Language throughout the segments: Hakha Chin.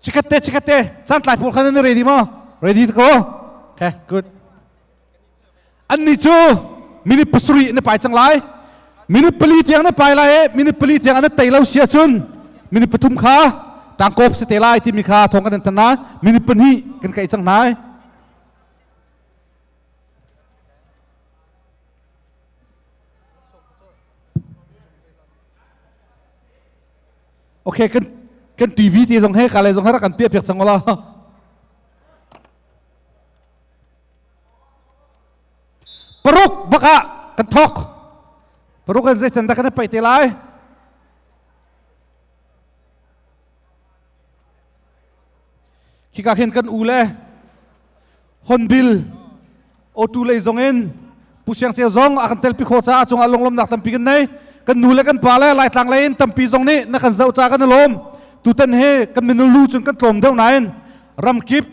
Chikatte, chikatte. Santlai pawl khan nan ready maw? Ready to go? Okay, good. Annih cu minute pasarih na pai cang lai. Minute pali tiang na pai lai i minute pali tiang an tei lo si ahcun minute pathum kha tangkop si te lai timi kha thong kan in tan na minute pahnih kan kaih cang hna. Okay, kan kan TV te zong he ka le zong he rak kan piahpiak cang wala paruk baka kan thok paruk kan zeitan da kan paih te lai Hika khin kan u le Honbil Otu lei zong in Pu Siang Ceu zong a kan telpi kho caah cungah lunglawmnak tampi kan nei. Kan nu le kan pa le Laitlang lei in tampi zong nih na kan zoh ca kan i lawm. Tutan hi kan minul lu cun kan tlawm deuh nain ramkip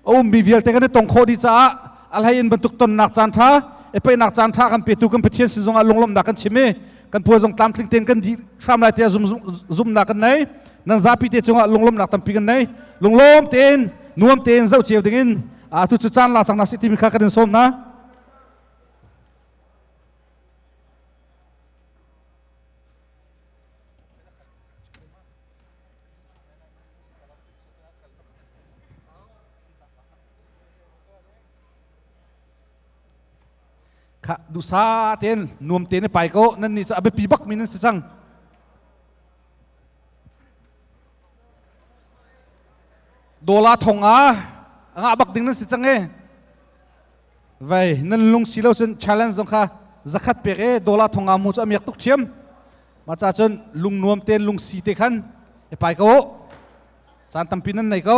a ummi vialte kan i tong khawh dih caah a hlei in bantuk tonnak caan ṭha e peinak caan ṭha kan petu kan Pathian sin zongah lunglawmhnak kan chim i kan puai zong tlamtling tein kan dih hram lai tiah zumnak kan nei nang zapi te cungah lunglawmhnak tampi kan nei lunglawm tein nuam tein zoh cio dingin atu cu caan la cang na si timi kha kan in sawm na kha dusa ten nuam te ne pai ko nan ni cu a biapi bak mi nan si cang dola thong ah ngah bak ding nan si cang e Vai nan lung si lo cun challenge zong kha zakhat pek e dollar thong mu cu amiak tuk thiam ma ca cun lung nuam ten lung si te khan e pai ko caan tampi nan nei ko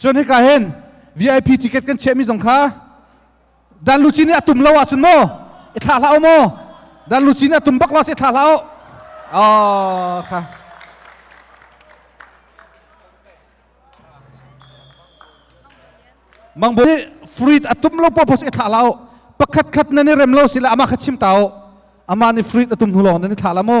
cun hika hin VIP ticket kan chiahmi zong kha dan luci nih a tum lo ahcun maw i thlah hlah u maw dan luci nih a tum bak lo ahcun i thlah hlah u oh, kha mang bu fruit atum lo purpose i thlah la u pakhat khat nan i rem lo sila ama kha chim ta u ama nih fruit atum hnu lawng nan i thlah la mu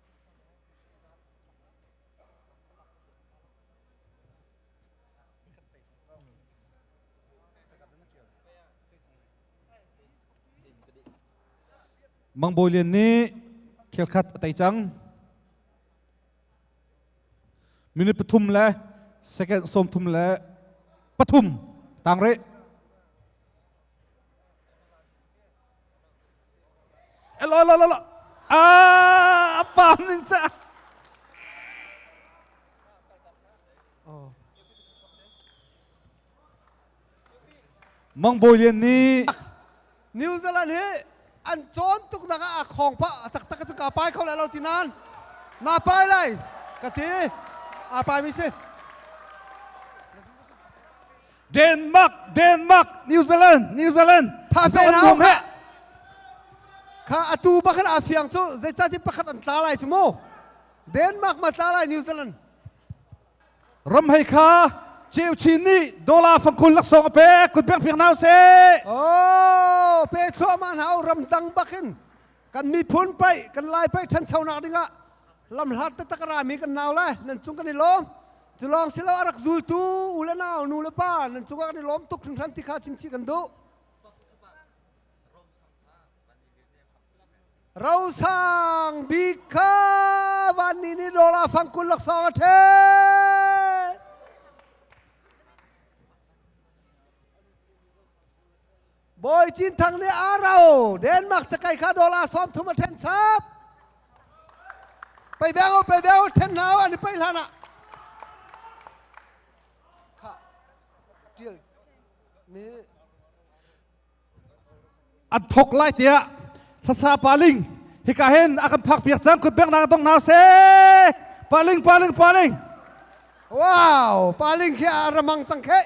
Mang Bawi Lian nih khelkhat a tei cang. Minute pathum le second sawm thum le pathum tang rih. Elo lo lo lo. Ah, pam ning cha. Oh. Mang Bawi Lian nih New Zealand hi an cawn tuk nak ah khong pa taktak cu ka pai kho lai lo ti nan na pai lai ka ti a pai mi si Denmark Denmark New Zealand New Zealand thase na hau heh kha atu bakhat a fiang cu zeicah ti pakhat an tla lai cu mu Denmark ma tla lai New Zealand ram hei kha ceu chin nih dollar fangkul laksawng a pek kut pek fiang nau se oh pe thluahma hna ram dang bakin kan miphun pai kan lai pai ṭhanchonak dingah lamhlat te takara mi kan nau lai nan cung kan i lawm Cu lawng si lo a rak zultu u le nau, nu le pa nan cungah kan i lawm tuk hringhran ti kha chimchih kan duh. Rosang bik kha van ni ni dola fang kun lak song a ṭhe. Bawi Cin Thang nih Aro Denmark cakai kha dollar sawm thum a ṭhen chap. Pei beu pei beu ṭhen hlau an i pei hlan ah. Kha ṭil mi an thok lai tiah hlasa paling hika hen a kan phak piak cang kut bek na dong hna se paling paling paling wow paling khi a ramang cang kheh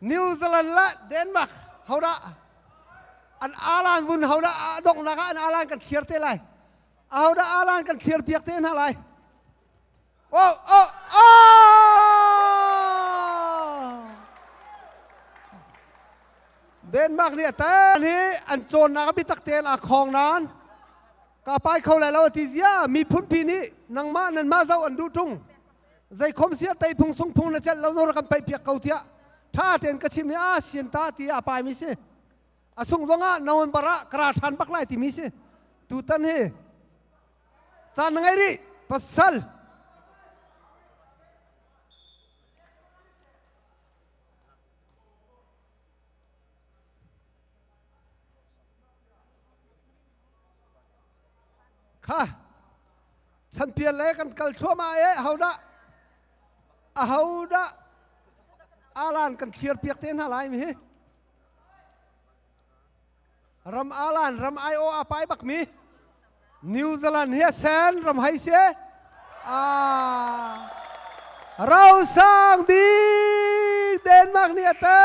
New Zealand le Denmark hodah an alan vun hodah a donghnak ah an alan kan thliar te lai ahodah alan kan thliar piak te hna lai oh oh oh Denmark nih tan hi an cawnnak a bitak tein a khong nan ka pai kho lai lo ti zia mi phunpi nih nangmah nan mah zoh an duh tung zeikhom sia tei phung sung phung le cel lo nor kan pei piak ko tiah tha ten ka chim ni a sian ta ti a pai mi si a sung zong ah nawn bar ah kara than bak lai ti mi si tu tan hi chan ngai ri pasal kha chanpial le kan kal thluahmah e ahodah ahodah alan kan thlir piak te hna lai mi hi ram alan ram ai o a pai bak mi New Zealand hi sen ram hai se a rausang bik Denmark ni ate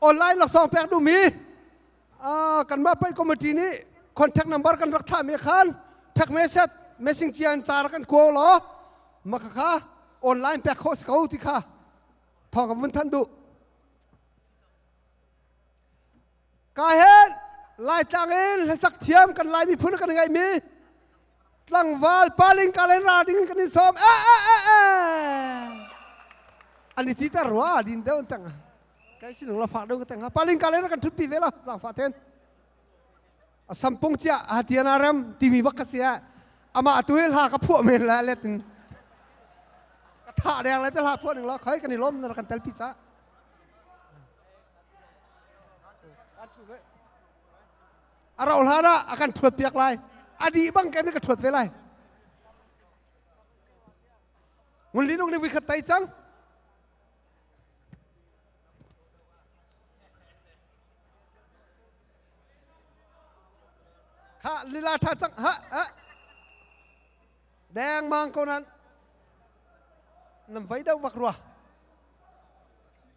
online laksawng pek duhmi kanmah pei committee nih contact number kan rak thlah mi khan thak mesej mesing cian car kan kuo lo maka kha online pek kho si ko ti kha thawng ka vun thanh duh Ka hen Laitlang in hlasak thiam kan Lai miphun kan ngeih mi tlangval paling ka len ra ding kan in sawm e e e e an i ti ta rua din deuh in tang kai sinung la fa deuh ka tang paling ka len kan thut pi ve lo zangfa ten a sampung cia a tiana rem timi bak ka sia ama tu hi hla ka phuah men la let in ka tha der la cha hla phuah ning lo khoi kan i lom na kan tel pi cha A rauh hlan ah a kan ṭhuat piak lai. A dih bang kan ka ṭhuat ve lai. Ngun Linung nih voikhat tai cang. Kha lila ṭha cang. Ha, ha. Deng mang ko nan. Nam vai deuh vak rua.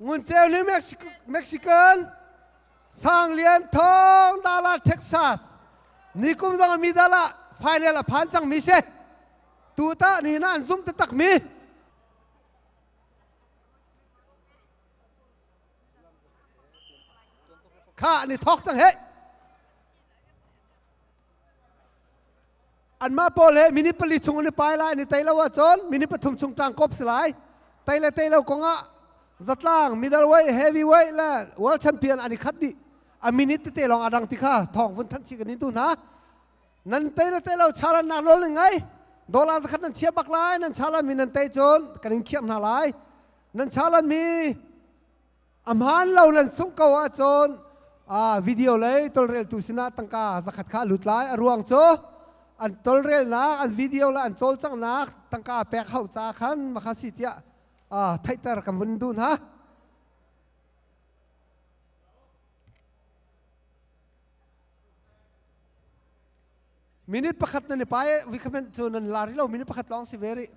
Nguncheu ni Mexican sang lian thong dala Texas nikum zong mi dal ah final a phan cang mi si tu tah ni na an zum taktak mi kha ni thok cang he Anmah pawl he minute pali chung an i pai lai an i tei lo ahcun minute pathum chung ṭang kop si lai. Tei le tei lo kongah zatlang middleweight heavyweight le world champion an i khat dih a minute tete lawng a dang ti kha thawng vun thanh si kan in tu hna nan tei le tei lo chalan nak nawl nan ngei dollar zakhat nan chia bak lai nan chalan mi nan tei cun kan in khiam hna lai nan chalan mi A hmaan lo nan sungh ko ahcun video lei tolreltu sinah tangka zakhat kha lut lai. A ruang cu an tolrelnak, an video le an cawlcanghnak tangka pek hau ca khan makhasi tiah theihter ka mun du hna. Minute pakhat nan i pai, recommend cu nan la rih lo, minute pakhat lawng si ve rih.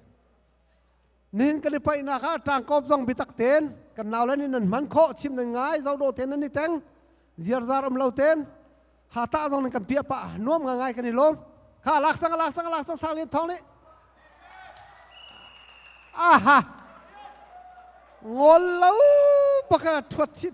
nin kan i paihnak ah ṭangkawp zong bitak ten kan nau le nih nan hman khawh chim nan ngai zo do ten nan i teng ziarzar um lo ten hata zong nan kan piah pah nuam nga ngai kan i lawm kha lak sang lak sang lak sang sang lian thong nih aha ngol lo baka thuat chit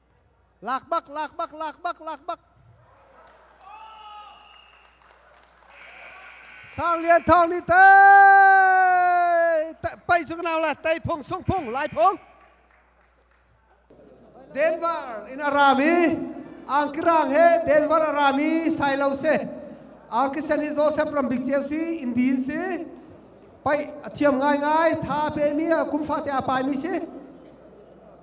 Lak bak, lak bak, lak bak, lak bak. Sang Lian Thawng nih tei pei sung nau la tei phung sung phung lai phung. Denver in arami angkirang he Denver arami sailo se angkisani Joseph Rambik Ceu si Indian si pai athiam ngai ngai tha pe mi kumfa te apai mi si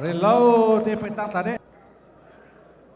Relo te paitak tla deh.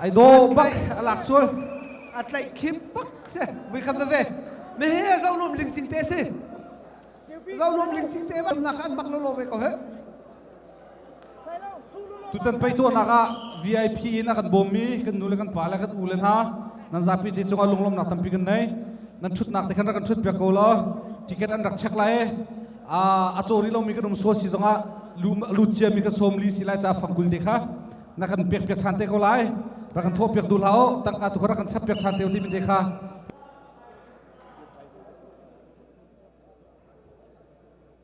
ai do bak a lak sul a tlaih khim pak se vui kham ve me he zo nom ling ching te se zo nom ling ching te ban nak an bak lo lo ve ko he Tutan pei tuahnak ah VIP in a kan bawm mi kan nu le kan pa le kan u le hna nan zapi te cungah lunglawmnak tampi kan nei nan ṭhutnak te khan rak kan ṭhut piak ko law ticket an rak check lai a caw rih lomi kan um sual si zongah lut cia mi ka sawm li si lai ca fangkul te kha na kan pek piak ṭhan te ko lai rak kan thawh piak duh hlah tangka tu kha rak kan chap piak ṭhan te ti mi te kha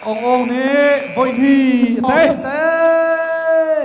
Aung Aung nih voihnih a tei.